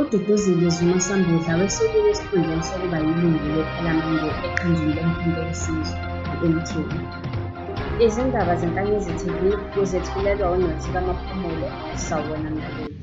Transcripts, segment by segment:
UDuduzile Zuma Sambudla wesukile esikhundleni sokuba yilungu lePhalamende eqenjini lomkhonto wesizwe, i-MK. Izindaba zeNkanyezi TV uzethulelwa uNothi kaMaphumulo, sawubona mlaleli.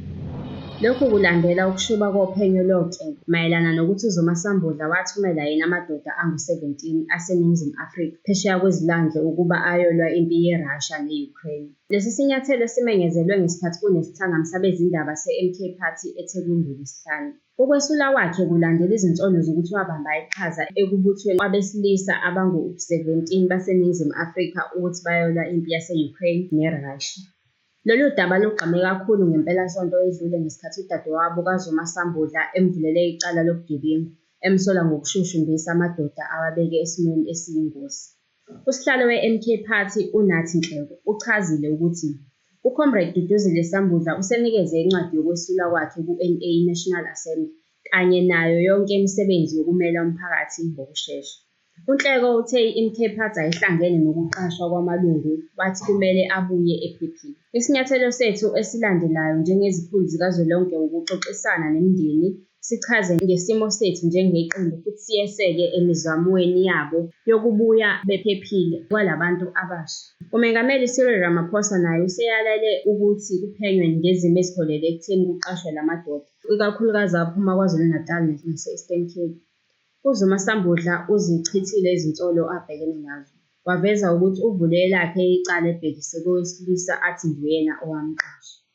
Lokhu kulandela ukushuba kophenyo loKe mayelana nokuthi uZuma Sambudla wathumela yini amadoda angu-17 aseNingizimu Afrika phesheya kwezilwandle ukuba ayolwa impi yeRussia ne-Ukraine. Lesi sinyathelo simenyezelwe ngesikhathi kunesithangami sabezindaba seMK Party eThekwini ngoLwesihlanu. Ukwesula kwakhe kulandela izinsolo zokuthi wabamba iqhaza ekubuthweni kwabesilisa abangu-17 baseNingizimu Afrika ukuthi bayolwa impi yase-Ukraine neRussia. Lolu daba lugqame kakhulu ngempelasonto edlule ngesikhathi udadewabo kaZuma Sambudla emvulele icala lobugebengu, emsola ngokushushumbisa amadoda awabeke esimweni esiyingozi. Usihlalo weMK Party uNathi Nhleko uchazile ukuthi uComrade Duduzile Sambudla usenikeze incwadi yokwesula kwakhe kuNA National Assembly kanye nayo yonke imisebenzi yokumela umphakathi ngokushesha. UNhleko uthe iMK Party ayihlangene nokuqashwa kwamalungu wathi kumele abuye ephephile. Isinyathelo sethu esilandelayo njengezikhulu zikazwelonke wukuxoxisana nemindeni sichaze ngesimo sethu njengeqembu futhi siyeseke emizamweni yabo yokubuya bephephile kwalabantu abasha. UMengameli Cyril Ramaphosa naye useyalele ukuthi kuphenywe ngezimo eziholele ekutheni kuqashwe la madoda, ikakhulukazi aphuma KwaZulu-Natal nase-Eastern Cape. UZuma sambudla uzichithile izinsolo abhekene nazo, waveza ukuthi uvule elakhe icala ebhekise kowesilisa athi nguyena owamqasha.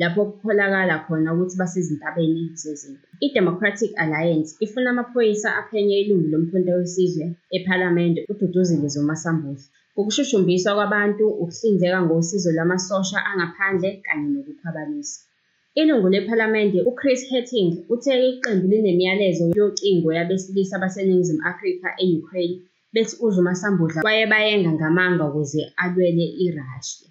lapho kukholakala khona ukuthi basezintabeni zezimpi. I-Democratic Alliance ifuna amaphoyisa aphenye ilungu loMkhonto weSizwe ePhalamende uDuduzile Zuma Sambuhle ngokushushumbiswa kwabantu, ukuhlinzeka ngosizo lwamasosha angaphandle kanye nokukhwabanisa. Ilungu lePhalamende uChris Hattingh uthe iqembu linemiyalezo yocingo yabesilisa baseNingizimu Afrika e-Ukraine bethi uZuma Sambudla wayebayenga ngamanga ukuze alwele iRussia.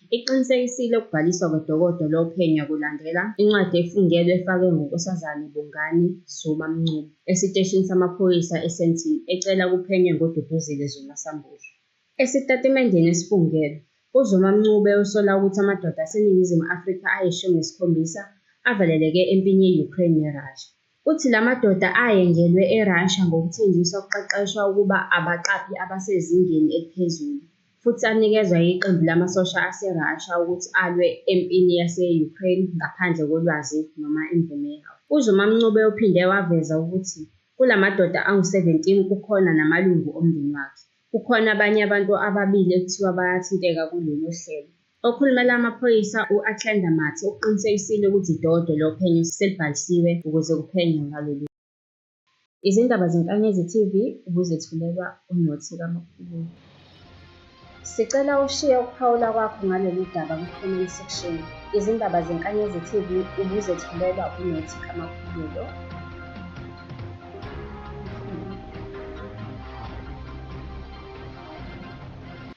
Iqinisekisile ukubhaliswa kwedokodo lophenyo kulandela incwadi efungelwe efakwe nguNkosazane Bongani Zuma Mncube esiteshini samaphoyisa eSandton ecela kuphenywe ngoDuduzile Zuma Sambudla. Esitatimendeni esifungelwe, uZuma Mncube usola ukuthi amadoda aseNingizimu Afrika ayishumi nesikhombisa avaleleke empini ye-Ukraine neRussia, Uthi la madoda ayengelwe eRussia ngokuthenjiswa ukuqeqeshwa ukuba abaqaphi abasezingeni eliphezulu futhi anikezwa yiqembu lamasosha aseRussia ukuthi alwe empini yase-Ukraine ngaphandle kolwazi noma imvume yawo. UZuma Mncube uphinde waveza ukuthi kula madoda angu-17 kukhona namalungu omndeni wakhe. Kukhona abanye abantu ababili ekuthiwa bayathinteka kulolu hlelo. Okhulumela amaphoyisa u-Athlenda Mathe ukuqinisekisile ukuthi dodwe lophenyo selibhalisiwe ukuze kuphenywe ngalolu Izindaba zeNkanyezi TV ubuzethulelwa uNothi kaMaphumulo. Sicela ushiye ukuphawula kwakho ngalolu daba kwi-comment section. Izindaba zeNkanyezi TV ubuzethulelwa uNothi kaMaphumulo.